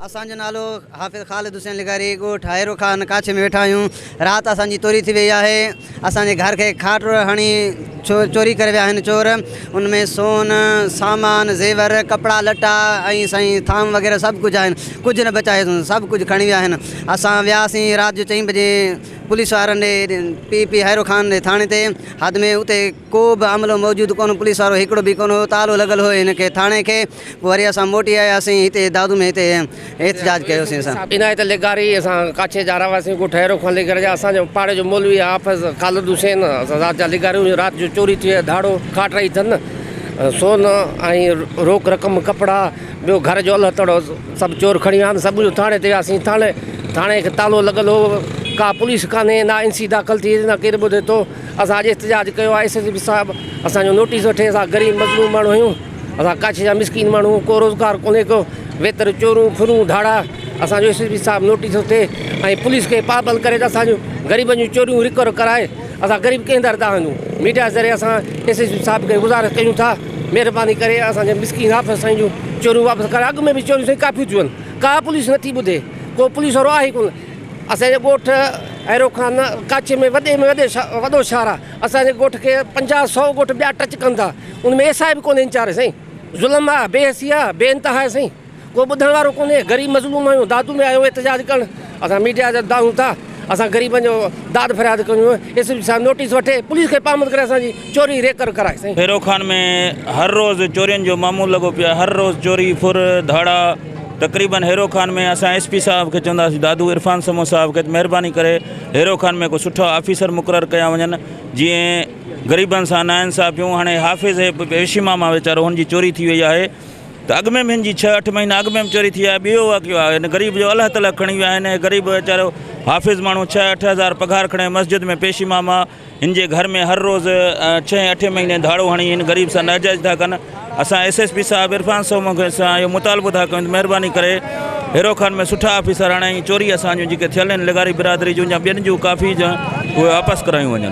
اسان جو نالو حافظ خالد حسين لغاري ڳوٺ هائيرو خان ڪاڇي ۾ ويٺا آهيون رات اسان جي توري ٿي وئي آهي اسان جي گهر کي کاٽ ٽوڙ هڻي چوري ڪري ويا آهن چور ان ۾ سون سامان زيور ڪپڙا لٽا ۽ سائين ٿانو وغيره سڀ ڪجهه آهن ڪجهه نه بچايو اٿن سڀ ڪجهه کڻي ويا آهن اسان وياسين رات جو چئين بجي پوليس وارن ڏي پي پي هائيرو خان جي ٿاڻي تي حد ۾ اتي ڪو به عملو موجود ڪونه پوليس وارو هڪڙو به ڪونه هو تالو لڳل هو هن کي ٿاڻي کي پوء وري اسان موٽي آياسين هتي دادو ۾ هتي احتجاج ڪيوسين اسان. عنايت لغاري اسان ڪاڇي جا رهواسين ڳوٺ هيرو خان لغاري جا اسان جو پاڙي جو مولوي آ حافظ خالد حسين اسان ذات جا لغاري آهيون رات جو چوري ٿي ويا ڌاڙو کاٽ رهي ٿن سون ۽ روڪ رقم ڪپڙا ٻيو گهر جو اله تڙو سڀ چور کڻي ويا آهن سڀ جو ٿاڻي تي وياسين ٿاڻي ٿاڻي کي تالو لڳل هو ڪا پوليس ڪانهي نه اين سي داخل ٿي نه ڪير ٻڌي ٿو اسان اڄ احتجاج ڪيو آ ايس ايس پي صاحب اسان جو نوٽيس وٺي اسان غريب مظلوم ماڻهو آهيون. اسان ڪاڇي جا مسڪين ماڻهو ڪو روزگار ڪونهي ڪو ويتر چورون ڦرون ڌاڙا اسان جو ايس ايس پي صاحب نوٽيس ٿو ٿئي ۽ پوليس کي پابند ڪري ته اسان جون غريبن جون چوريون رڪور ڪرائي اسان غريب ڪنهن در تان وڃون ميڊيا ذريعي اسان ايس ايس پي صاحب کي گذارش ڪيون ٿا مهرباني ڪري اسان جي مسڪين آفيسر سائين جون چوريون واپس ڪرائي اڳ ۾ به چوريون سائين ڪافيون ٿيون آهن ڪا پوليس نٿي ٻڌي ڪو پوليس وارو آهي ڪونه اسان جي ڳوٺ اهرو خان ڪاڇي ۾ وڏي ۾ وڏي وڏو شهر آهي اسان جي ڳوٺ کي پنجاهه سؤ ڳوٺ ٻيا ٽچ ڪن ٿا ان ۾ ايس آء به ڪونهي ويچاري سائين ظلم آ بي حسي آ بي انتها آهي سائين ڪو ٻڌڻ وارو ڪونهي غريب مظلوم آهيون دادو ۾ آيو احتجاج ڪرڻ اسان ميڊيا جا دانهون ٿا اسان غريبن جو داد فرياد ڪريون ايس پي صاحب نوٽيس وٺي پوليس کي پامد ڪري اسان جي چوري ريڪر ڪرائي سائين. ڀيرو خان ۾ هر روز چورين جو معمول لڳو پيو آهي هر روز چوري ڦر ڌاڙا تقريبن هيرو خان ۾ اسان ايس پي صاحب کي چونداسين دادو عرفان سمون صاحب کي ته مهرباني ڪري هيرو خان ۾ ڪو سٺا آفيسر مقرر ڪيا وڃن جيئن غريبن سان ناانصافيون هاڻي حافظ هي ويشيما مان ويچارو هن جي چوري ٿي وئي آهي ته اڳ ۾ به هن جي ڇهه اٺ مهينا اڳ ۾ به چوري ٿي آهي ٻيو واقعو آهي هن غريب جو الهه تلهه کڻي ويا آهن هي غريب ويچارو حافظ ماڻهو ڇهه اٺ هزار پگهار کڻي مسجد ۾ پيشي ماما هن جي گهر ۾ هر روز ڇهين اٺين مهيني ڌاڙو هڻي هن غريب سان ناجائز ٿا ڪن اسان ايس ايس پي صاحب عرفان سومو کي اسان اهو مطالبو ٿا ڪيون ته مهرباني ڪري هيرو خان ۾ سٺا آفيسر آڻي ۽ چوري اسان جون جيڪي ٿيل آهن لغاري برادري جون يا ٻين جون ڪافي جون اهي واپس ڪرايون وڃن.